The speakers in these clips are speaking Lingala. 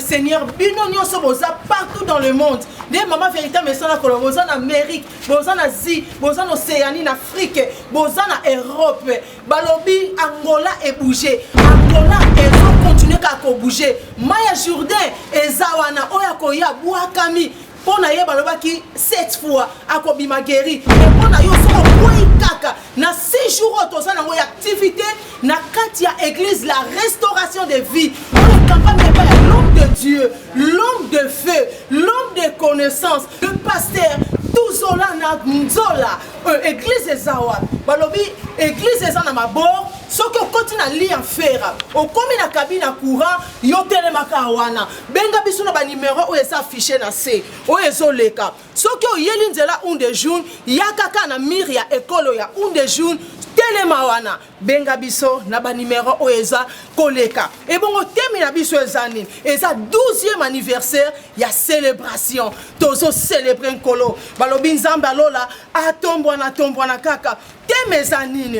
seigneur bino nyonso boza partout dans le monde nde mama vérité mesana kolo boza na amérique boza na asie boza na océanie na afrique boza na europe balobi angola ebouge angola ezokontinue kaka kobouge mai ya jourdain eza wana oyo akoya bwakami Po na ye balobaki cette fois akobima gueri mais po na yo soki okweyi kaka na six jours oyo toza nango ya activite na kati ya eglise la restauration de vie oyo ekambami epai ya l'homme de dieu l'homme de feu l'homme de connaissance le pasteur tuzola na nzola euh, eglise eza wapi balobi eglise eza na mabor soki okoti na lia fera okomi na kabina courant Yo telema kaka wana, benga biso na ba numero oyo eza affiche na se oyo ezoleka. Soki oyeli nzela un de jour, yaka kaka na mur ya ecole oyo ya un de jour, telema wana benga biso na ba numero oyo eza koleka. Ebongo temi na biso eza nini? Eza 12e anniversaire ya celebration. Tozo celebrer Nkolo. Balobi Nzambe ya lola atombwana tombwana kaka. Thème eza nini?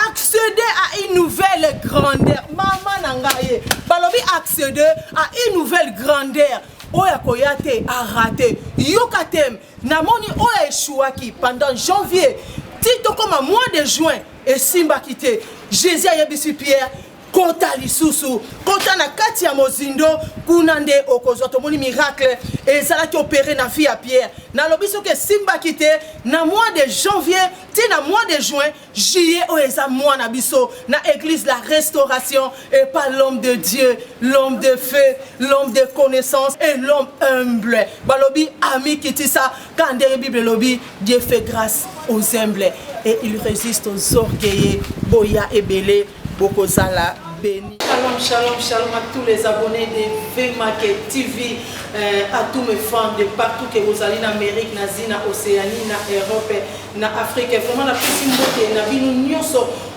Accéder à une nouvelle grandeur. Mama na ngai, balobi accéder à une nouvelle grandeur. oyo akoya te arate yoka te namoni oyo eshuaki pendant janvier ti tokoma mois de juin esimbaki te jésus ayebisi pierre kota lisusu kota na kati ya mozindo kuna nde okozwa tomoni miracle ezalaki opere na vie ya pierre nalobi soki esimbaki te na mois de janvier ti na mois de juin juillet oyo eza mwa na biso na église la restauration et pas l'homme de dieu l'homme de feu l'homme de connaissance et l'homme humble balobi amikitisa ka ndenge bible elobi dieu fait grâce aux humbles et il résiste aux orgueilleux boya ebele bokozala beni. Shalom, shalom, shalom à tous les abonnés de VMake TV, euh, à tous mes fans de partout que vous allez en Amérique, en Asie, en Océanie, en Europe, en Afrique. Vraiment, la petite beauté, la vie, nous, nous,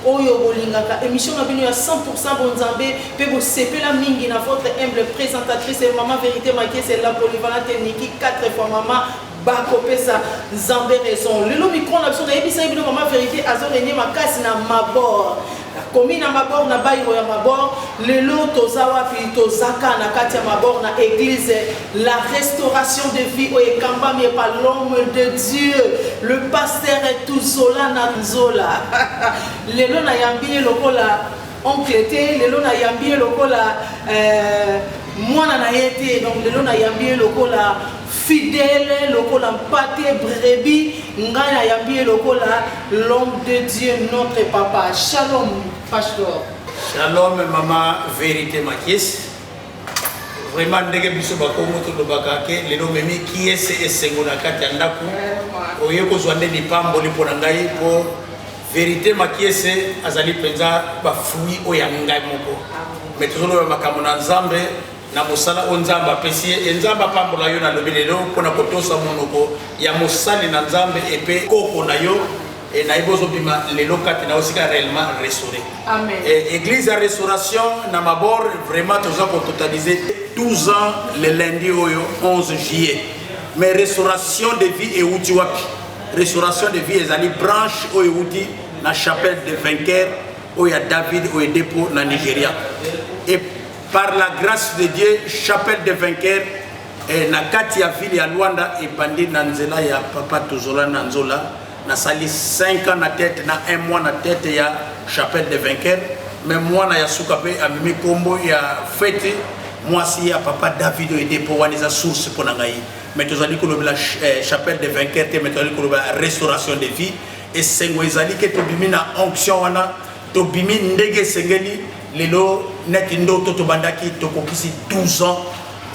oyo bolingaka émission na bino ya 100 bonzambe mpe bosepela mingi na votre humble présentatrice mama vérité makiese la polyvalente niki 4 fois mama Ba kopesa nzambe raison lelo micro na biso nayebisaki bino mama verite azo renie makasi na mabor nakomi na mabor na bairo ya mabor lelo toza wapi tozaka na kati ya mabor na eglise la restauration de vie oyo ekambami epa l'homme de dieu le pasteur tuzola na nzola lelo nayambi ye lokola oncle te lelo nayambi ye lokola euh, mwana na ye te donc lelo nayambi ye lokola Fidèle lokola mpate brebis ngai na yambi ye lokola l'homme de Dieu notre papa shalom pastor. Shalom mama verite makis vraiment ndenge biso bakongo tolobaka ke lelo memi kiese esengo na kati ya ndako oye kozwa nde lipamboli mpo na ngai mpo verite makiese azali mpenza bafui oyo ya ngai moko me tozoloba makambo na nzambe na mosala oyo Nzambe apesi ye. E Nzambe apambola yo, nalobi lelo mpo na kotosa monoko ya mosali na Nzambe epe koko na yo e nayebi ozobima lelo kati na osika réellement restauré. Amen. E, église ya restauration na mabor vraiment toza kototalize 12 ans le lundi oyo 11 juillet mais restauration de vie euti wapi restauration de vie ezali branche oyo euti na chapelle de vainqueur oyo ya david oyo edepo na nigeria Par la grace de Dieu, Chapelle de Vainqueur eh, na kati ya ville ya Luanda ebandi na nzela ya Papa Tozola na Nzola nasali 5 ans na tete na 1 mois na tete ya Chapelle de Vainqueur me mwana ya suka mpe amemi nkombo ya fete mwasi ya Papa David Oede mpo wana eza source mpo na ngai me tozali kolobela eh, Chapelle de Vainqueur te me tozali kolobela restauration de vie esengo ezali ke tobimi na onction wana Tobimi ndege esengeli lelo neti ndoto tobandaki tokokisi 12 ans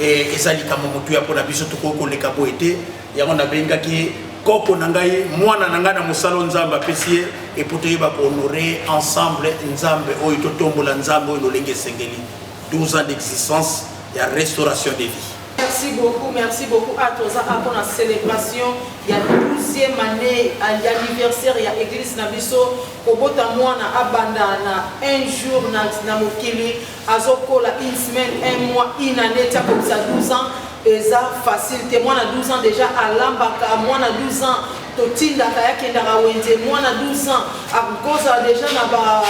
eh, eza likambo motuya mpo na biso tokoki koleka boye te yango nabengaki koko na ngai mwana na ngai na mosala nzambe apesi ye epo toyeba kohonore ensemble nzambe oyo totombola nzambe oyo lolenge esengeli 12 ans d'existence ya restauration de vie Merci beaucoup, merci beaucoup à tous pour la célébration. Il y a 12e année, il y a l'anniversaire, il y a l'église Nabiso. Kobota mwana abanda na un jour na na mokili azo kola une semaine, un mois, une annee ti akokisa 12 ans eza facile te mwana 12 ans dejà alambaka mwana 12 ans totindaka ye akendaka wenze mwana 12 ans akozala dejà na ba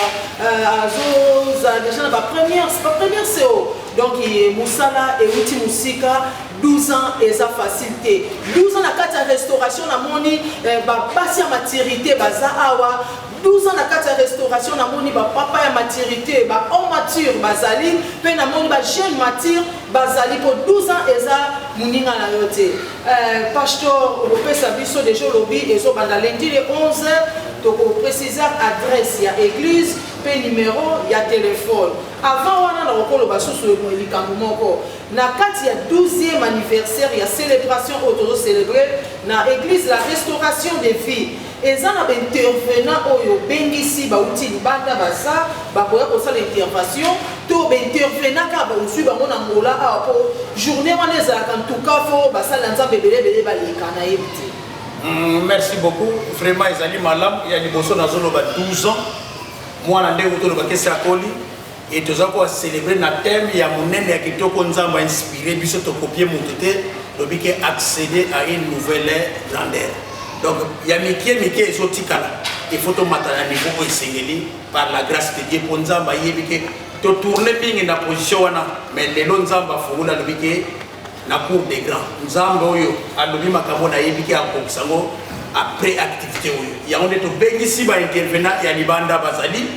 euh, azozala dejà na ba première ba première seo donc eh, mosala euti mosika 12 ans eza facile te 12 ans na kati ya restauration namoni eh, babasi ya maturité baza awa 12 ans na kati ya restauration namoni bapapa ya maturité bahomme mature bazali mpe namoni bajeune mature bazali mpo 12 ans eza moninga na yo te eh, pastor okopesa biso deja olobi ezobanda lendi le 11 tokoprécise adresse ya église mpe numero ya telefone avant wana nakokoloba susu likambo moko Na kati ya 12 e anniversaire ya celebration oyo tozo celebrer na eglise la restauration de vie, eza na ba intervenants oyo obengisi bawuti libanda baza bakoya kosala intervention to ba intervenants kaka ba ozui bango na Angola awa po journee wana ezalaka ntuka fo basali na Nzambe ebele ebele baleka na yebi te. Hum, merci beaucoup vraiment ezali malamu ya liboso nazoloba 12 ans mwana nde utolobakesi akoli Et toza ko celebrer na thème ya munene ya kitoko Nzambe a inspire biso to copier mutu te lobi ke accéder à une nouvelle grandeur. Donc ya mikie mikie ezo tikala il faut to mata na niveau oyo esengeli par la grâce de Dieu po Nzambe ayebi ke to tourner mingi na position wana mais lelo Nzambe afungola lobi ke na cour des grands nzambe oyo alobi makambo nayebi ke akokisa yango après activité oyo yango nde tobengisi baintervenant ya libanda bazali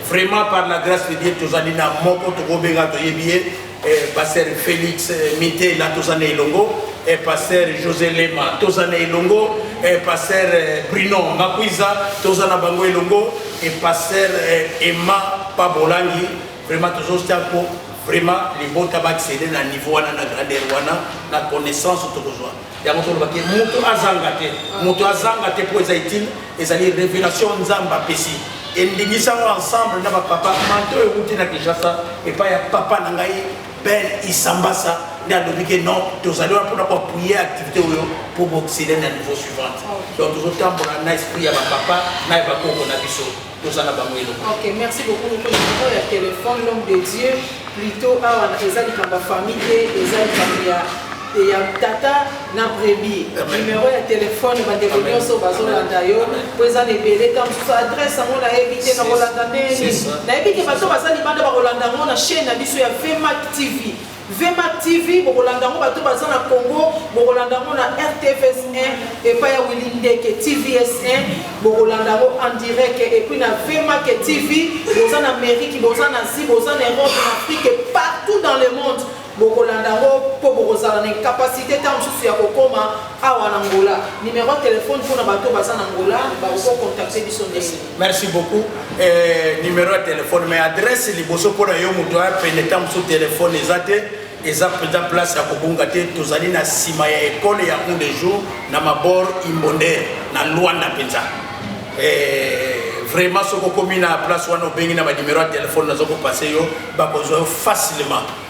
Vraiment par la grace de Dieu tozali na moko tokobenga toyebi ye pasteur Felix Mitela toza na elongo pasteur José Lema toza na elongo pasteur Bruno Makuiza toza na bango elongo et pasteur Emma Pabolangi vraiment tozostia ko vraiment libota ba accéder na niveau wana na grandeur wana na connaissance tokozwa yango tolobaki moto azanga te moto azanga te mpo eza itile ezali révélation nzambe apesi endingisa yango ensemble na bapapa manto euti na kinshasa epai ya papa na ngai ben isambasa nde alobi ke non tozali wana mpona koapuye activité oyo mpo boxile na niveau suivante donc tozotambola na esprit ya bapapa na ya bakoko na biso toza na bango eloko ok merci beaucoup moko numero ya telefone l'homme de dieu plutôt awa ah, eza likambo ya famille te eza likambo ya ya tata na brebi numero ya telefone bandeko nyonso bazolanda yo mpo eza na ebele ta mosusu adresse yango nayebi te nakolanda ndeni nayebi te bato baza libanda bakolanda yango na chaîne na biso ya vmac tv Vmac TV bokolanda yango bato baza na Congo bokolanda yango na RTVS 1 epai ya Willy Ndeke TVS 1 bokolanda yango en direct et puis na Vmac TV boza na Amérique boza na Asie boza na Europe na Afrique et partout dans le monde bokolanda yango mpo bokozala na incapacité ntango mosusu ya kokoma awa na Angola. Numero ya telefone mpo na bato baza na Angola bakokontacte biso ndenge Merci beaucoup. Eh, numéro ya telefone mais adresse liboso mpo na yo moto aya pene ntango mosusu telefone eza te eza mpenza place ya kobunga te tozali na nsima ya ekole ya un de jour na mabor imbonde na lwanda mpenza eh, vraiment soki okomi na place wana obengi na banimero ya telefone naza kopase yo bakozwa yo facilement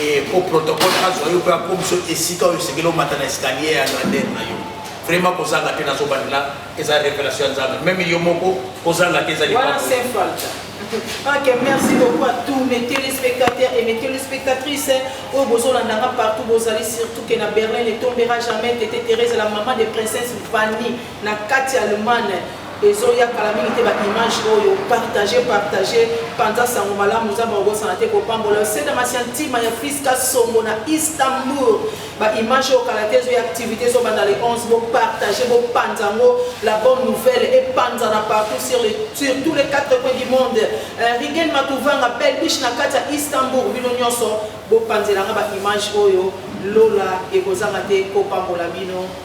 Eh, po protocole azwa yo mpe akomiso esika oyo esengeli omata na escalier ya grandeur na yo vraiment kozanga te nazobandela eza révélation ya nzambe meme yo moko kozanga te eza liwana saint falta Ok, merci beaucoup à tous mes téléspectateurs et mes téléspectatrices. Au Bozo Landanga partout, Bozali, surtout que na Berlin ne tombera jamais. Tété Thérèse, la maman des princesses Vanille. na kati ya Allemagne ezoya kala mingi te ba image oyo partage partage panza sango malamu nzambe akobosana te kopambola yo seda masiantima ya fiska songo na istanbul ba image oyo kala te ezoya activité ezobanda le 11 bopartage bopanza yango la bonne nouvelle epanzana partout sur, le, sur tous les quatre coins du monde euh, rigen matuvanga belbiche na kati ya istanbul bino nyonso bopanzelanga ba image oyo lola ekozanga te kopambola bino